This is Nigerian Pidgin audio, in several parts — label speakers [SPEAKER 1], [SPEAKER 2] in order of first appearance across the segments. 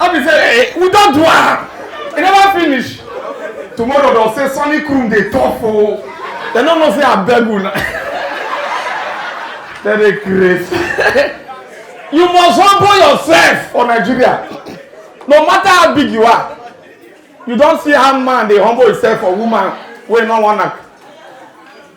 [SPEAKER 1] I be say hey, we don do am. E never finish. Tomorrow they'll say Sonny Krum dey tough o. They no know say I beg una. They dey craze. you must humble yourself for Nigeria. No matter how big you are. You don see how man dey humble himself for woman wey no wan knack.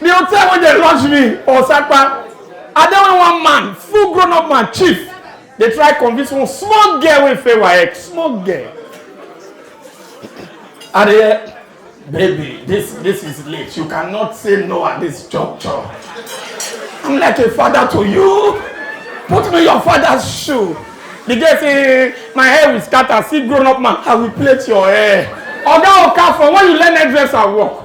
[SPEAKER 1] The hotel wey dey launch me Osapa, I dey with one man, full grown up man, chief. They try convince one small girl wey fail WAEC, small girl. I dey hear, baby, this this is late. You cannot say no at this juncture. I'm like a father to you. Put me your father's shoe. The girl say, my hair will scatter. See grown up man, I will plait your hair. Oga Okafor, when you learn hairdresser work,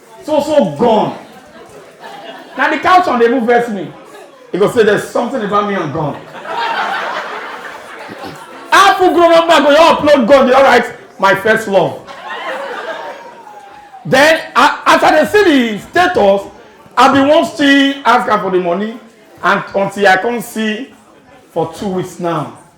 [SPEAKER 1] So so gone. Now the couch on the move vex me. He go say there's something about me and gone. Apple grown up man go you upload gone you alright my first love. Then as I see the status I be wan still ask am for the money and until I come see for two weeks now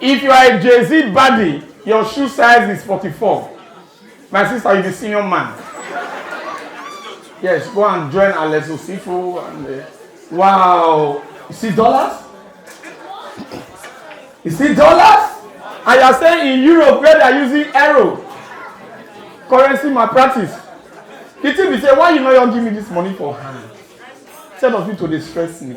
[SPEAKER 1] If you are a Jay-Z baddie, your shoe size is 44. My sister, you be senior man. Yes, go and join Alex Osifo and uh, wow. You see dollars? You see dollars? And you are staying in Europe where they are using euro currency malpractice. The thing be say, why you no wan give me this money for hand? Instead of you to dey stress me.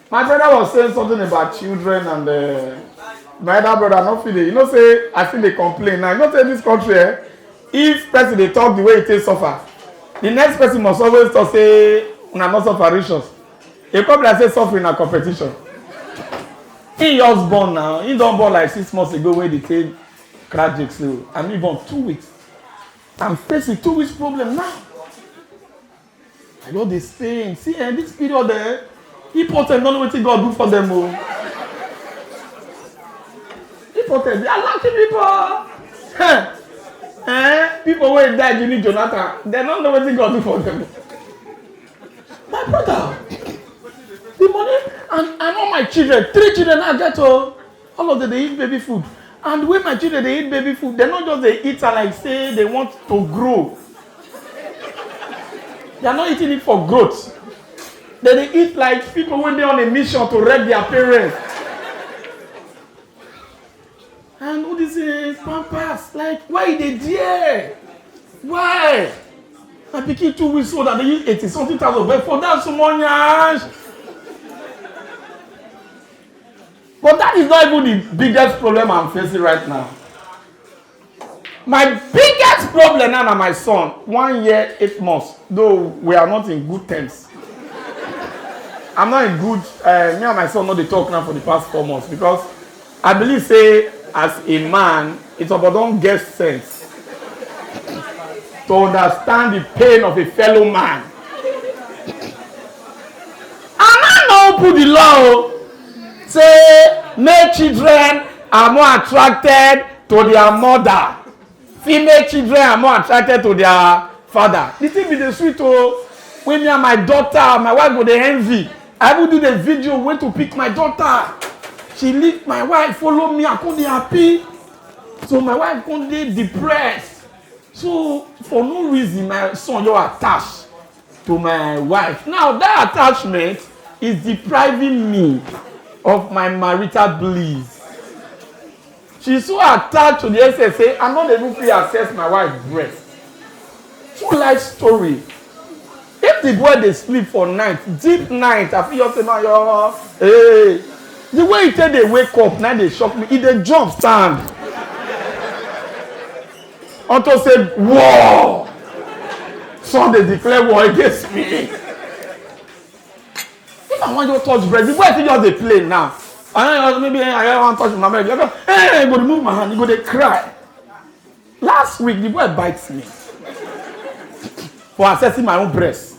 [SPEAKER 1] My brother was saying something about children and uh, my other brother no fit dey you know say I still dey complain now you know say this country eh if person dey talk the way he take suffer the next person must always talk say una no suffer reach us e come be like say suffering na competition he just born now he don born like six months ago wey dey take crack jake so and he born two weeks i'm facing two weeks problem now I know this thing. See, eh, this period, eh, people tell don't know what God do for them. Oh. People tell they are lucky people. Eh, eh, people wey die during Jonathan, they don't know what God do for them. My brother, the money and, and all my children, three children I get oh. all of them dey eat baby food and the way my children dey eat baby food dem no just dey eat am like say they want to grow they are not eating it for growth they dey eat like people wey dey on a mission to wreck their parents and all this uh, pampers like why e dey there why my pikin two weeks old and dey use eighty something thousand but for that small yansh But that is not even the biggest problem I'm facing right now. My biggest problem now na my son, one year, eight months, though we are not in good terms. I'm not in good, uh, me and my son not dey talk now for the past four months because I believe say as a man, it's about don't get sense to understand the pain of a fellow man. And I no put the law Say male children are more attracted to their mother. Female children are more attracted to their father. The thing be the sweet oh. When me and my daughter, my wife go dey envy. I even do the video when to pick my daughter. She leave my wife, follow me, I come dey happy. So my wife come dey depressed. So for no reason, my son just attached. to my wife. Now that attachment is depriving me of my marital bliss. She's so attached to the extent say I'm not even fit access my wife breast. True life story. If the boy dey sleep for night, deep night, I fit just say my your hey. The way he take dey wake up na dey shock me, he dey jump stand. Unto say war. Some dey declare war against me. If I wan just touch bread, the boy fit just dey play now. I don't know, maybe I wan touch my bread. Hey, go remove my hand, you go dey cry. Last week, the boy bites me for accessing my own breast.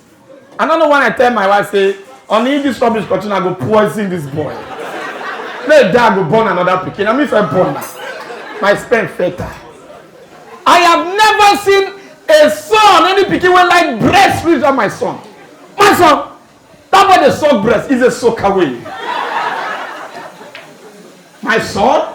[SPEAKER 1] I don't know when I tell my wife say, "Honey, if this rubbish continue, I go poison this boy." Let dad go born another pikin. I mean, if I born now, my sperm fatal. I have never seen a son, any pikin wey like breast reach than my son. My son, that boy dey suck breast is a soak away. My son,